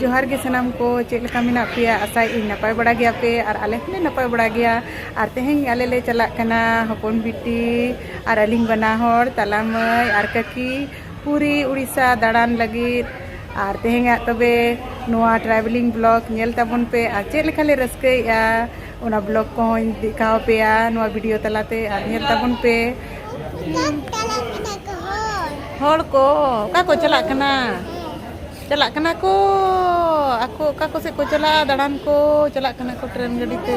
ᱡᱚᱦᱟᱨ ᱜᱮ ᱥᱟᱱᱟᱢ ᱠᱚ ᱪᱮᱫ ᱞᱮᱠᱟ ᱢᱮᱱᱟᱜ ᱯᱮᱭᱟ ᱟᱥᱟᱭ ᱤᱧ ᱱᱟᱯᱟᱭ ᱵᱟᱲᱟ ᱜᱮᱭᱟ ᱯᱮ ᱟᱨ ᱟᱞᱮ ᱦᱚᱸᱞᱮ ᱱᱟᱯᱟᱭ ᱵᱟᱲᱟ ᱜᱮᱭᱟ ᱟᱨ ᱛᱮᱦᱮᱧ ᱟᱞᱮ ᱞᱮ ᱪᱟᱞᱟᱜ ᱠᱟᱱᱟ ᱦᱚᱯᱚᱱ ᱵᱤᱴᱤ ᱟᱨ ᱟᱹᱞᱤᱧ ᱵᱟᱱᱟ ᱦᱚᱲ ᱛᱟᱞᱟ ᱢᱟᱹᱭ ᱟᱨ ᱠᱟᱹᱠᱤ ᱯᱩᱨᱤ ᱩᱲᱤᱥᱥᱟ ᱫᱟᱬᱟᱱ ᱞᱟᱹᱜᱤᱫ ᱟᱨ ᱛᱮᱦᱮᱧᱟᱜ ᱛᱚᱵᱮ ᱱᱚᱣᱟ ᱴᱨᱟᱵᱷᱮᱞᱤᱝ ᱵᱞᱚᱜ ᱧᱮᱞ ᱛᱟᱵᱚᱱ ᱯᱮ ᱟᱨ ᱪᱮᱫ ᱞᱮᱠᱟ ᱞᱮ ᱨᱟᱹᱥᱠᱟᱹᱭᱮᱫᱼᱟ ᱚᱱᱟ ᱵᱞᱚᱜ ᱠᱚᱦᱚᱸᱧ ᱫᱮᱠᱷᱟᱣ ᱯᱮᱭᱟ ᱱᱚᱣᱟ ᱵᱷᱤᱰᱤᱭᱳ ᱛᱟᱞᱟᱛᱮ ᱟᱨ ᱧᱮᱞ ᱛᱟᱵᱚᱱ ᱯᱮ ᱦᱚᱲ ᱠᱚ ᱚᱠᱟ ᱠᱚ ᱪᱟᱞᱟᱜ ᱠᱟᱱᱟ ᱪᱟᱞᱟᱜ ᱠᱟᱱᱟ ᱠᱚ ᱟᱠᱚ ᱚᱠᱟ ᱠᱚᱥᱮᱫ ᱠᱚ ᱪᱟᱞᱟᱜᱼᱟ ᱫᱟᱬᱟᱱ ᱠᱚ ᱪᱟᱞᱟᱜ ᱠᱟᱱᱟ ᱠᱚ ᱴᱨᱮᱱ ᱜᱟᱹᱰᱤ ᱛᱮ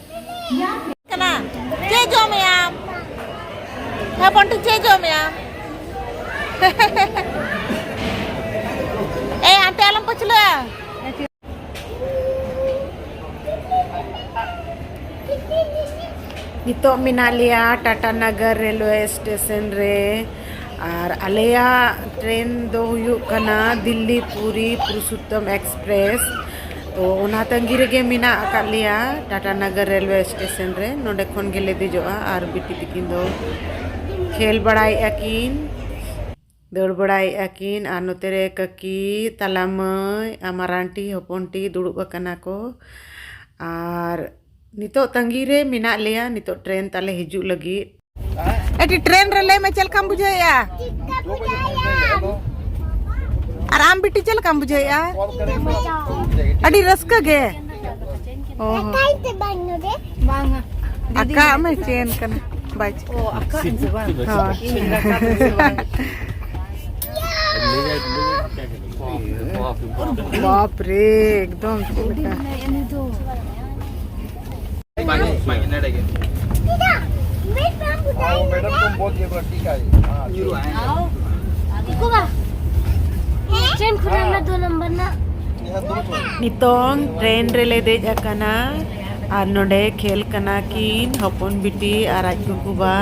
ᱠᱟᱱᱟ ᱪᱮᱫ ᱡᱚᱢᱮᱭᱟᱢ ᱦᱚᱯᱚᱱ ᱴᱷᱤᱠ ᱪᱮᱫ ᱡᱚᱢᱮᱭᱟᱢ ᱮ ᱟᱱᱴᱮ ᱟᱞᱚᱢ ᱯᱟᱹᱪᱷᱞᱟᱹ ᱱᱤᱛᱚᱜ ᱢᱮᱱᱟᱜ ᱞᱮᱭᱟ ᱴᱟᱴᱟ ᱱᱟᱜᱟᱨ ᱨᱮᱞᱣᱮ ᱥᱴᱮᱥᱚᱱ ᱨᱮ ᱟᱨ ᱟᱞᱮᱭᱟᱜ ᱴᱨᱮᱱ ᱫᱚ ᱦᱩᱭᱩᱜ ᱠᱟᱱᱟ ᱫᱤᱞᱞᱤ ᱯᱩᱨᱤ ᱯᱩᱨᱩᱥᱳᱛᱛᱚᱢ ᱮᱠᱥᱯᱨᱮᱥ ᱛᱚ ᱚᱱᱟ ᱛᱟᱺᱜᱤ ᱨᱮᱜᱮ ᱢᱮᱱᱟᱜ ᱟᱠᱟᱫ ᱞᱮᱭᱟ ᱴᱟᱴᱟ ᱱᱚᱜᱚᱨ ᱨᱮᱞᱣᱮ ᱥᱴᱮᱥᱚᱱ ᱨᱮ ᱱᱚᱰᱮ ᱠᱷᱚᱱ ᱜᱮᱞᱮ ᱫᱮᱡᱚᱜᱼᱟ ᱟᱨ ᱵᱤᱴᱤ ᱛᱟᱹᱠᱤᱱ ᱫᱚ ᱠᱷᱮᱞ ᱵᱟᱲᱟᱭᱮᱫᱼᱟ ᱠᱤᱱ ᱫᱟᱹᱲ ᱵᱟᱲᱟᱭᱮᱫᱼᱟ ᱠᱤᱱ ᱟᱨ ᱱᱚᱛᱮ ᱨᱮ ᱠᱟᱹᱠᱤ ᱛᱟᱞᱟ ᱢᱟᱹᱭ ᱟᱨ ᱢᱟᱨᱟᱝᱴᱤ ᱦᱚᱯᱚᱱᱴᱤ ᱫᱩᱲᱩᱵ ᱟᱠᱟᱱᱟ ᱠᱚ ᱟᱨ ᱱᱤᱛᱳᱜ ᱛᱟᱺᱜᱤ ᱨᱮ ᱢᱮᱱᱟᱜ ᱞᱮᱭᱟ ᱱᱤᱛᱳᱜ ᱴᱨᱮᱱ ᱛᱟᱞᱮ ᱦᱤᱡᱩᱜ ᱞᱟᱹᱜᱤᱫ ᱮᱴᱤ ᱴᱨᱮᱱ ᱨᱮ ᱞᱟᱹᱭ ᱢᱮ ᱪᱮᱫ ᱞᱮᱠᱟᱢ ᱵᱩᱡᱷᱟᱹᱣᱮᱜᱼᱟ ᱟᱨ ᱟᱢ ᱵᱤᱴᱤ ᱪᱮᱫ ᱞᱮᱠᱟᱢ ᱵᱩᱡᱷᱟᱹᱣᱮᱜᱼᱟ ᱟᱹᱰᱤ ᱨᱟᱹᱥᱠᱟᱹ ᱜᱮ ᱟᱠᱟᱜ ᱢᱮ ᱪᱮᱱ ᱠᱟᱱᱟ ᱵᱟᱭ ᱦᱳᱭ ᱵᱟᱯ ᱨᱮ ᱮᱠᱫᱚᱢ ᱪᱮᱫ ᱞᱮᱠᱟ ᱱᱤᱛᱚᱝ ᱴᱨᱮᱱ ᱨᱮᱞᱮ ᱫᱮᱡ ᱟᱠᱟᱱᱟ ᱟᱨ ᱱᱚᱰᱮ ᱠᱷᱮᱞ ᱠᱟᱱᱟ ᱠᱤᱱ ᱦᱚᱯᱚᱱ ᱵᱤᱴᱤ ᱟᱨ ᱟᱡ ᱜᱚᱜᱚ ᱵᱟ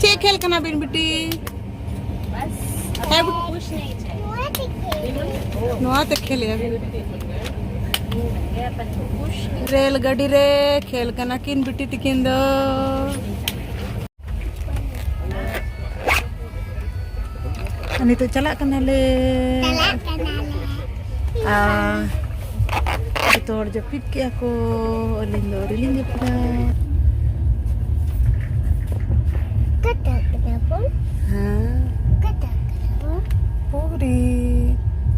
ᱪᱮᱫ ᱠᱷᱮᱞ ᱠᱟᱱᱟ ᱵᱤᱱ ᱵᱤᱴᱤ ᱱᱚᱣᱟ ᱛᱮ ᱠᱷᱮᱞ ᱨᱮᱞ ᱜᱟᱹᱰᱤ ᱨᱮ ᱠᱷᱮᱞ ᱠᱟᱱᱟ ᱠᱤᱱ ᱵᱤᱴᱤ ᱛᱤᱠᱤᱱ ᱫᱚ ᱱᱤᱛᱚᱜ ᱪᱟᱞᱟᱜ ᱠᱟᱱᱟᱞᱮ ᱪᱟᱞᱟᱜ ᱠᱟᱱᱟᱞᱮ ᱡᱚᱛᱚ ᱦᱚᱲ ᱡᱟᱹᱯᱤᱫ ᱠᱮᱜᱼᱟ ᱠᱚ ᱟᱹᱞᱤᱧ ᱫᱚ ᱟᱹᱣᱨᱤ ᱞᱤᱧ ᱡᱟᱹᱯᱤᱫᱟ ᱯᱩᱨᱤ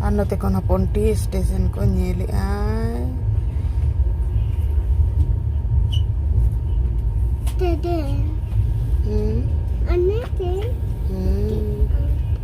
ᱟᱨ ᱱᱚᱛᱮ ᱠᱷᱚᱱ ᱦᱚᱯᱚᱱ ᱴᱤ ᱥᱴᱮᱥᱚᱱ ᱠᱚ ᱧᱮᱞᱮᱜᱼᱟ ᱦᱩᱸ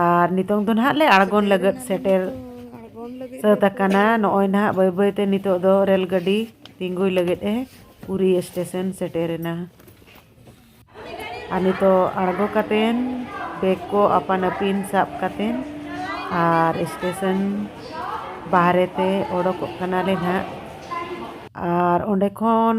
ᱟᱨ ᱱᱤᱛᱚᱝ ᱫᱚ ᱱᱟᱦᱟᱜ ᱞᱮ ᱟᱬᱜᱚᱱ ᱞᱟᱹᱜᱤᱫ ᱥᱮᱴᱮᱨ ᱥᱟᱹᱛ ᱟᱠᱟᱱᱟ ᱱᱚᱜᱼᱚᱭ ᱱᱟᱦᱟᱜ ᱵᱟᱹᱭ ᱵᱟᱹᱭ ᱛᱮ ᱱᱤᱛᱚᱜ ᱫᱚ ᱨᱮᱹᱞ ᱜᱟᱹᱰᱤ ᱛᱤᱸᱜᱩᱭ ᱞᱟᱹᱜᱤᱫ ᱮ ᱯᱩᱨᱤ ᱥᱴᱮᱥᱚᱱ ᱥᱮᱴᱮᱨᱮᱱᱟ ᱟᱨ ᱱᱤᱛᱚᱜ ᱟᱬᱜᱚ ᱠᱟᱛᱮᱱ ᱵᱮᱜᱽ ᱠᱚ ᱟᱯᱟᱱ ᱟᱹᱯᱤᱱ ᱥᱟᱵ ᱠᱟᱛᱮᱱ ᱟᱨ ᱥᱴᱮᱥᱚᱱ ᱵᱟᱦᱨᱮ ᱛᱮ ᱚᱰᱚᱠᱚᱜ ᱠᱟᱱᱟᱞᱮ ᱱᱟᱦᱟᱜ ᱟᱨ ᱚᱸᱰᱮ ᱠᱷᱚᱱ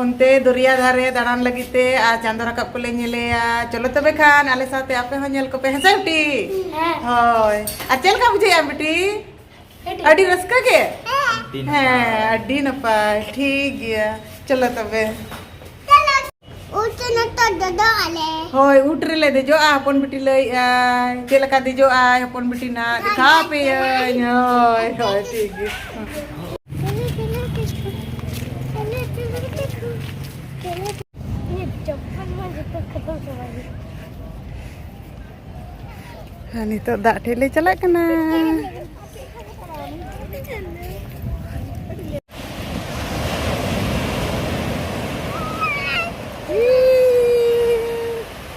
ᱚᱱᱛᱮ ᱫᱚᱨᱭᱟ ᱫᱷᱟᱨᱮ ᱫᱟᱬᱟᱱ ᱞᱟᱹᱜᱤᱫ ᱛᱮ ᱟᱨ ᱪᱟᱸᱫᱚ ᱨᱟᱠᱟᱵ ᱠᱚᱞᱮ ᱧᱮᱞᱮᱭᱟ ᱪᱚᱞᱚ ᱛᱚᱵᱮ ᱠᱷᱟᱱ ᱟᱞᱮ ᱥᱟᱶᱛᱮ ᱟᱯᱮ ᱦᱚᱸ ᱧᱮᱞ ᱠᱚᱯᱮ ᱦᱮᱸᱥᱮ ᱵᱤᱴᱤ ᱦᱳᱭ ᱟᱨ ᱪᱮᱫ ᱞᱮᱠᱟ ᱵᱩᱡᱷᱟᱹᱣᱮᱜᱼᱟ ᱵᱤᱴᱤ ᱟᱹᱰᱤ ᱨᱟᱹᱥᱠᱟᱹ ᱜᱮ ᱦᱮᱸ ᱟᱹᱰᱤ ᱱᱟᱯᱟᱭ ᱴᱷᱤᱠ ᱜᱮᱭᱟ ᱪᱚᱞᱚ ᱛᱚᱵᱮ ᱦᱳᱭ ᱩᱴ ᱨᱮᱞᱮ ᱫᱮᱡᱚᱜᱼᱟ ᱦᱚᱯᱚᱱ ᱵᱤᱴᱤ ᱞᱟᱹᱭᱮᱜᱼᱟ ᱪᱮᱫ ᱞᱮᱠᱟ ᱫᱮᱡᱚᱜᱼᱟᱭ ᱦᱚᱯᱚᱱ ᱵᱤᱴᱤ ᱱᱟᱜ ᱫᱮᱠᱷᱟᱣ ᱟᱯᱮᱭᱟᱹᱧ ᱦᱳᱭ ᱦᱳᱭ ᱴᱷᱤᱠ ᱜᱮᱭᱟ ᱦᱮᱸ ᱱᱤᱛᱚᱜ ᱫᱟᱜ ᱴᱷᱮᱡ ᱞᱮ ᱪᱟᱞᱟᱜ ᱠᱟᱱᱟ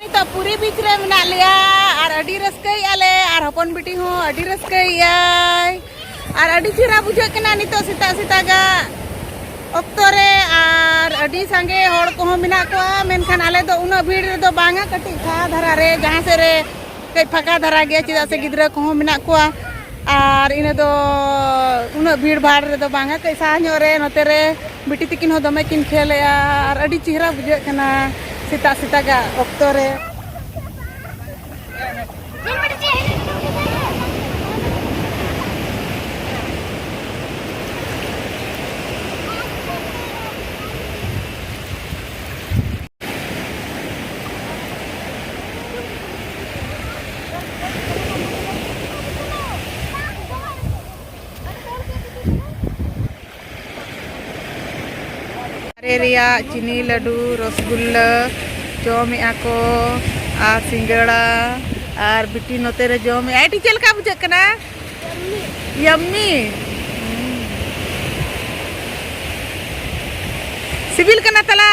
ᱱᱤᱛᱚᱜ ᱯᱩᱨᱤ ᱵᱤᱪ ᱨᱮ ᱢᱮᱱᱟᱜ ᱞᱮᱭᱟ ᱟᱨ ᱟᱹᱰᱤ ᱨᱟᱹᱥᱠᱟᱹᱭᱮᱫᱼᱟ ᱞᱮ ᱟᱨ ᱦᱚᱯᱚᱱ ᱵᱤᱴᱤ ᱦᱚᱸ ᱟᱹᱰᱤ ᱨᱟᱹᱥᱠᱟᱹᱭᱮᱫᱼᱟᱭ ᱟᱨ ᱟᱹᱰᱤ ᱪᱮᱦᱨᱟ ᱵᱩᱡᱷᱟᱹᱜ ᱠᱟᱱᱟ ᱱᱤᱛᱚᱜ ᱥᱮᱛᱟᱜ ᱥᱮᱛᱟᱜᱟᱜ ᱚᱠᱛᱚ ᱨᱮ ᱟᱨ ᱟᱹᱰᱤ ᱥᱟᱸᱜᱮ ᱦᱚᱲ ᱠᱚᱦᱚᱸ ᱢᱮᱱᱟᱜ ᱠᱚᱣᱟ ᱢᱮᱱᱠᱷᱟᱱ ᱟᱞᱮ ᱫᱚ ᱩᱱᱟᱹᱜ ᱵᱷᱤᱲ ᱨᱮᱫᱚ ᱵᱟᱝᱟ ᱠᱟᱹᱴᱤᱡ ᱯᱷᱟᱸᱠᱟ ᱫᱷᱟᱨᱟ ᱨᱮ ᱡᱟᱦᱟᱸ ᱥᱮᱫ ᱨᱮ ᱠᱟᱹᱡ ᱯᱷᱟᱸᱠᱟ ᱫᱷᱟᱨᱟ ᱜᱮᱭᱟ ᱪᱮᱫᱟᱜ ᱥᱮ ᱜᱤᱫᱽᱨᱟᱹ ᱠᱚᱦᱚᱸ ᱢᱮᱱᱟᱜ ᱠᱚᱣᱟ ᱟᱨ ᱤᱱᱟᱹ ᱫᱚ ᱩᱱᱟᱹᱜ ᱵᱷᱤᱲ ᱵᱷᱟᱲ ᱨᱮᱫᱚ ᱵᱟᱝᱟ ᱠᱟᱹᱡ ᱥᱟᱦᱟ ᱧᱚᱜ ᱨᱮ ᱱᱚᱛᱮ ᱨᱮ ᱵᱤᱴᱤ ᱛᱤᱠᱤᱱ ᱦᱚᱸ ᱫᱚᱢᱮ ᱠᱤᱱ ᱠᱷᱮᱞ ᱮᱜᱼᱟ ᱟᱨ ᱟᱹᱰᱤ ᱪᱮᱦᱨᱟ ᱵᱩᱡᱷᱟᱹᱜ ᱠᱟᱱᱟ ᱥᱮᱛᱟᱜ ᱥᱮᱛᱟᱜᱟᱜ ᱚᱠᱛᱚ ᱨᱮ ᱫᱟᱨᱮ ᱨᱮᱭᱟᱜ ᱪᱤᱱᱤ ᱞᱟᱹᱰᱩ ᱨᱚᱥᱜᱩᱞᱞᱟᱹ ᱡᱚᱢᱮᱜᱼᱟ ᱠᱚ ᱟᱨ ᱥᱤᱸᱜᱟᱹᱲᱟ ᱟᱨ ᱵᱤᱴᱤ ᱱᱚᱛᱮ ᱨᱮ ᱡᱚᱢᱮᱜᱼᱟ ᱟᱹᱰᱤ ᱪᱮᱫ ᱞᱮᱠᱟ ᱵᱩᱡᱷᱟᱹᱜ ᱠᱟᱱᱟ ᱭᱟᱢᱢᱤ ᱥᱤᱵᱤᱞ ᱠᱟᱱᱟ ᱛᱟᱞᱟ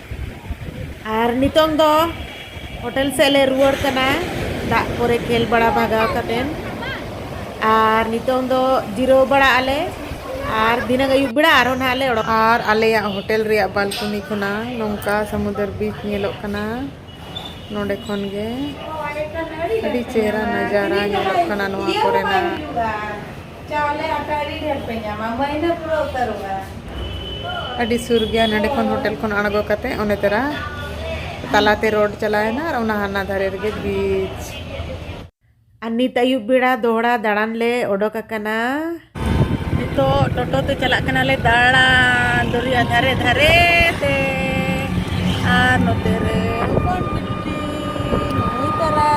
ᱟᱨ ᱱᱤᱛᱚᱝ ᱫᱚ ᱦᱳᱴᱮᱞ ᱥᱮᱫ ᱞᱮ ᱨᱩᱣᱟᱹᱲ ᱠᱟᱱᱟ ᱫᱟᱜ ᱠᱚᱨᱮ ᱠᱷᱮᱞ ᱵᱟᱲᱟ ᱵᱷᱟᱜᱟᱣ ᱠᱟᱛᱮᱱ ᱟᱨ ᱱᱤᱛᱚᱝ ᱫᱚ ᱡᱤᱨᱟᱹᱣ ᱵᱟᱲᱟᱜ ᱟᱞᱮ ᱟᱨ ᱫᱷᱤᱱᱟᱹᱝ ᱟᱹᱭᱩᱵ ᱵᱮᱲᱟ ᱟᱨᱦᱚᱸ ᱱᱟᱦᱟᱜ ᱞᱮ ᱚᱰᱚᱠ ᱟᱨ ᱟᱞᱮᱭᱟᱜ ᱦᱳᱴᱮᱞ ᱨᱮᱭᱟᱜ ᱵᱟᱞᱠᱚᱱᱤ ᱠᱷᱚᱱᱟᱜ ᱱᱚᱝᱠᱟ ᱥᱟᱢᱩᱫᱨ ᱵᱤᱪ ᱧᱮᱞᱚᱜ ᱠᱟᱱᱟ ᱱᱚᱰᱮ ᱠᱷᱚᱱ ᱜᱮ ᱟᱹᱰᱤ ᱪᱮᱦᱨᱟ ᱱᱟᱡᱟᱨᱟ ᱧᱮᱞᱚᱜ ᱠᱟᱱᱟ ᱱᱚᱣᱟ ᱠᱚᱨᱮᱱᱟᱜ ᱪᱟᱣᱞᱮ ᱟᱴᱟ ᱟᱹᱰᱤ ᱰᱷᱮᱨ ᱯᱮ ᱧᱟᱢᱟ ᱢᱟᱹᱭᱱᱟᱹ ᱯᱩᱨᱟᱹ ᱩᱛᱟᱹᱨᱚᱜᱼᱟ ᱟᱹᱰᱤ ᱥᱩᱨ ᱜᱮᱭᱟ ᱱᱚᱰᱮ ᱠᱷᱚᱱ ᱦᱳᱴᱮᱞ ᱠᱷᱚᱱ ᱟᱬᱜᱚ ᱠᱟᱛᱮ ᱚᱱᱮ ᱛᱮᱨᱟ ᱛᱟᱞᱟᱛᱮ ᱨᱳᱰ ᱪᱟᱞᱟᱣᱮᱱᱟ ᱟᱨ ᱚᱱᱟ ᱦᱟᱱᱟ ᱫᱷᱟᱨᱮ ᱨᱮᱜᱮ ᱵᱤᱪ ᱟᱨ ᱱᱤᱛ ᱟᱹᱭᱩᱵ ᱵᱮᱲᱟ ᱫᱚᱦᱲᱟ ᱫᱟᱬᱟᱱ ᱞᱮ ᱚᱰᱚᱠ ᱟᱠᱟᱱᱟ ᱱᱤᱛᱚᱜ ᱴᱳᱴᱳ ᱛᱮ ᱪᱟᱞᱟᱜ ᱠᱟᱱᱟᱞᱮ ᱫᱟᱬᱟᱱ ᱫᱚᱨᱭᱟ ᱫᱷᱟᱨᱮ ᱫᱷᱟᱨᱮ ᱛᱮ ᱟᱨ ᱱᱚᱛᱮ ᱨᱮ ᱦᱚᱯᱚᱱ ᱵᱤᱴᱤ ᱱᱩᱭ ᱛᱟᱨᱟ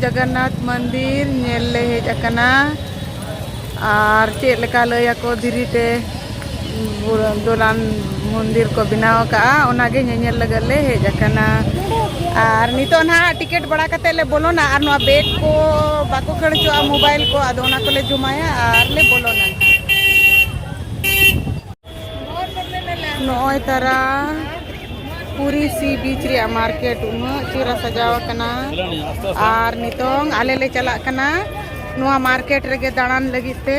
ᱡᱚᱜᱚᱱᱱᱟᱛᱷ ᱢᱚᱱᱫᱤᱨ ᱧᱮᱞ ᱞᱮ ᱦᱮᱡ ᱟᱠᱟᱱᱟ ᱟᱨ ᱪᱮᱫ ᱞᱮᱠᱟ ᱞᱟᱹᱭ ᱟᱠᱚ ᱫᱷᱤᱨᱤ ᱛᱮ ᱫᱚᱞᱟᱱ ᱢᱚᱱᱫᱤᱨ ᱠᱚ ᱵᱮᱱᱟᱣ ᱟᱠᱟᱫᱼᱟ ᱚᱱᱟᱜᱮ ᱧᱮᱧᱮᱞ ᱞᱟᱹᱜᱤᱫ ᱞᱮ ᱦᱮᱡ ᱟᱠᱟᱱᱟ ᱟᱨ ᱱᱤᱛᱚᱜ ᱱᱟᱦᱟᱜ ᱴᱤᱠᱤᱴ ᱵᱟᱲᱟ ᱠᱟᱛᱮᱫ ᱞᱮ ᱵᱚᱞᱚᱱᱟ ᱟᱨ ᱱᱚᱣᱟ ᱵᱮᱜᱽ ᱠᱚ ᱵᱟᱠᱚ ᱠᱷᱟᱹᱲ ᱦᱚᱪᱚᱣᱟᱜᱼᱟ ᱢᱳᱵᱟᱭᱤᱞ ᱠᱚ ᱟᱫᱚ ᱚᱱᱟ ᱠᱚᱞᱮ ᱡᱚᱢᱟᱭᱟ ᱟᱨ ᱞᱮ ᱵᱚᱞᱚᱱᱟ ᱱᱚᱜᱼᱚᱭ ᱛᱟᱨᱟ ᱯᱩᱨᱤ ᱥᱤ ᱵᱤᱪ ᱨᱮᱭᱟᱜ ᱢᱟᱨᱠᱮᱴ ᱩᱱᱟᱹᱜ ᱪᱮᱦᱨᱟ ᱥᱟᱡᱟᱣ ᱟᱠᱟᱱᱟ ᱟᱨ ᱱᱤᱛᱚᱝ ᱟᱞᱮ ᱞᱮ ᱪᱟᱞᱟᱜ ᱠᱟᱱᱟ ᱱᱚᱣᱟ ᱢᱟᱨᱠᱮᱴ ᱨᱮᱜᱮ ᱫᱟᱬᱟᱱ ᱞᱟᱹᱜᱤᱫ ᱛᱮ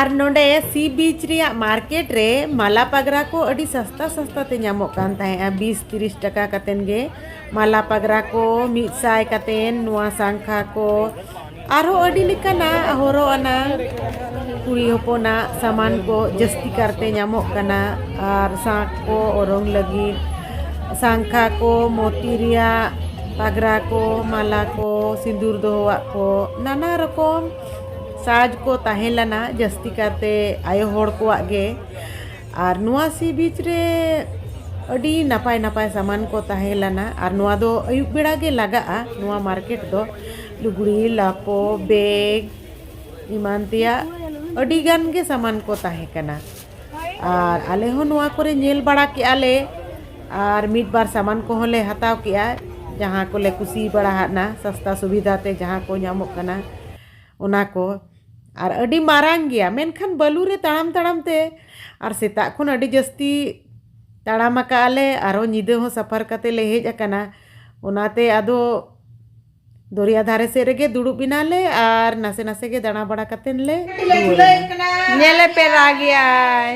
ᱟᱨ ᱱᱚᱰᱮ ᱥᱤ ᱵᱤᱪ ᱨᱮᱭᱟᱜ ᱢᱟᱨᱠᱮᱴ ᱨᱮ ᱢᱟᱞᱟ ᱯᱟᱜᱽᱨᱟ ᱠᱚ ᱟᱹᱰᱤ ᱥᱟᱥᱛᱟ ᱥᱟᱥᱛᱟ ᱛᱮ ᱧᱟᱢᱚᱜ ᱠᱟᱱ ᱛᱟᱦᱮᱸᱜᱼᱟ ᱵᱤᱥ ᱛᱤᱨᱤᱥ ᱴᱟᱠᱟ ᱠᱟᱛᱮᱱ ᱜᱮ ᱢᱟᱞᱟ ᱯᱟᱜᱽᱨᱟ ᱠᱚ ᱢᱤᱫ ᱥᱟᱭ ᱠᱟᱛᱮᱱ ᱱᱚᱣᱟ ᱥᱟᱝᱠᱷᱟ ᱠᱚ ᱟᱨᱦᱚᱸ ᱟᱹᱰᱤ ᱞᱮᱠᱟᱱᱟᱜ ᱦᱚᱨᱚᱜ ᱟᱱᱟᱜ ᱠᱩᱲᱤ ᱦᱚᱯᱚᱱᱟᱜ ᱥᱟᱢᱟᱱ ᱠᱚ ᱡᱟᱹᱥᱛᱤ ᱠᱟᱨᱛᱮ ᱧᱟᱢᱚᱜ ᱠᱟᱱᱟ ᱟᱨ ᱥᱟᱸᱠ ᱠᱚ ᱚᱨᱚᱝ ᱞᱟᱹᱜᱤᱫ ᱥᱟᱝᱠᱷᱟ ᱠᱚ ᱢᱚᱛᱤ ᱨᱮᱭᱟᱜ ᱯᱟᱜᱽᱨᱟ ᱠᱚ ᱢᱟᱞᱟ ᱠᱚ ᱥᱤᱸᱫᱩᱨ ᱫᱚᱦᱚᱣᱟᱜ ᱠᱚ ᱱᱟᱱᱟ ᱨᱚᱠᱚᱢ ᱥᱟᱡᱽ ᱠᱚ ᱛᱟᱦᱮᱸ ᱞᱮᱱᱟ ᱡᱟᱹᱥᱛᱤ ᱠᱟᱛᱮ ᱟᱭᱳ ᱦᱚᱲ ᱠᱚᱣᱟᱜ ᱜᱮ ᱟᱨ ᱱᱚᱣᱟ ᱥᱤ ᱵᱤᱪ ᱨᱮ ᱟᱹᱰᱤ ᱱᱟᱯᱟᱭ ᱱᱟᱯᱟᱭ ᱥᱟᱢᱟᱱ ᱠᱚ ᱛᱟᱦᱮᱸ ᱞᱮᱱᱟ ᱟᱨ ᱱᱚᱣᱟ ᱫᱚ ᱟᱹᱭᱩᱵ ᱵᱮᱲᱟ ᱜᱮ ᱞᱟᱜᱟᱜᱼᱟ ᱱᱚᱣᱟ ᱢᱟᱨᱠᱮᱴ ᱫᱚ ᱞᱩᱜᱽᱲᱤ ᱞᱟᱯᱚ ᱵᱮᱜᱽ ᱮᱢᱟᱱ ᱛᱮᱭᱟᱜ ᱟᱹᱰᱤ ᱜᱟᱱ ᱜᱮ ᱥᱟᱢᱟᱱ ᱠᱚ ᱛᱟᱦᱮᱸ ᱠᱟᱱᱟ ᱟᱨ ᱟᱞᱮ ᱦᱚᱸ ᱱᱚᱣᱟ ᱠᱚᱨᱮ ᱧᱮᱞ ᱵᱟᱲᱟ ᱠᱮᱜᱼᱟ ᱞᱮ ᱟᱨ ᱢᱤᱫ ᱵᱟᱨ ᱥᱟᱢᱟᱱ ᱠᱚᱦᱚᱸ ᱞᱮ ᱦᱟᱛᱟᱣ ᱠᱮᱜᱼᱟ ᱡᱟᱦᱟᱸ ᱠᱚᱞᱮ ᱠᱩᱥᱤ ᱵᱟᱲᱟ ᱟᱫᱼᱟ ᱥᱟᱥᱛᱟ ᱥᱩᱵᱤᱫᱷᱟ ᱛᱮ ᱡᱟᱦᱟᱸ ᱠᱚ ᱧᱟᱢᱚᱜ ᱠᱟᱱᱟ ᱚᱱᱟ ᱠᱚ ᱟᱨ ᱟᱹᱰᱤ ᱢᱟᱨᱟᱝ ᱜᱮᱭᱟ ᱢᱮᱱᱠᱷᱟᱱ ᱵᱟᱹᱞᱩ ᱨᱮ ᱛᱟᱲᱟᱢ ᱛᱟᱲᱟᱢ ᱛᱮ ᱟᱨ ᱥᱮᱛᱟᱜ ᱠᱷᱚᱱ ᱟᱹᱰᱤ ᱡᱟᱹᱥᱛᱤ ᱛᱟᱲᱟᱢ ᱟᱠᱟᱫᱼᱟ ᱞᱮ ᱟᱨᱚ ᱧᱤᱫᱟᱹ ᱦᱚᱸ ᱥᱟᱯᱷᱟᱨ ᱠᱟᱛᱮᱫ ᱞᱮ ᱦᱮᱡ ᱟᱠᱟᱱᱟ ᱚᱱᱟᱛᱮ ᱟᱫᱚ ᱫᱚᱨᱭᱟ ᱫᱷᱟᱨᱮ ᱥᱮᱫ ᱨᱮᱜᱮ ᱫᱩᱲᱩᱵ ᱮᱱᱟᱞᱮ ᱟᱨ ᱱᱟᱥᱮ ᱱᱟᱥᱮ ᱜᱮ ᱫᱟᱬᱟ ᱵᱟᱲᱟ ᱠᱟᱛᱮ ᱞᱮ ᱧᱮᱞᱮ ᱯᱮ ᱨᱟᱜᱮᱭᱟᱭ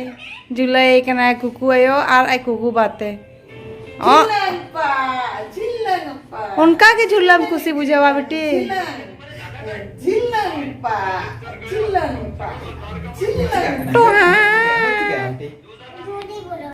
ᱡᱩᱞᱟᱹᱭ ᱠᱟᱱᱟᱭ ᱠᱩᱠᱩ ᱟᱭᱳ ᱟᱨ ᱟᱡ ᱠᱩᱠᱩ ᱵᱟᱛᱮ ᱚᱱᱠᱟ ᱜᱮ ᱡᱷᱩᱞᱟᱹᱢ ᱠᱩᱥᱤ ᱵᱩᱡᱷᱟᱹᱣᱟ ᱵᱤᱴᱤ ᱡᱷᱤᱞᱟᱹᱝ ᱯᱟ ᱡᱷᱤᱞᱟᱹᱝ ᱯᱟ ᱡᱷᱤᱞᱟᱹᱝ ᱴᱚᱦᱟ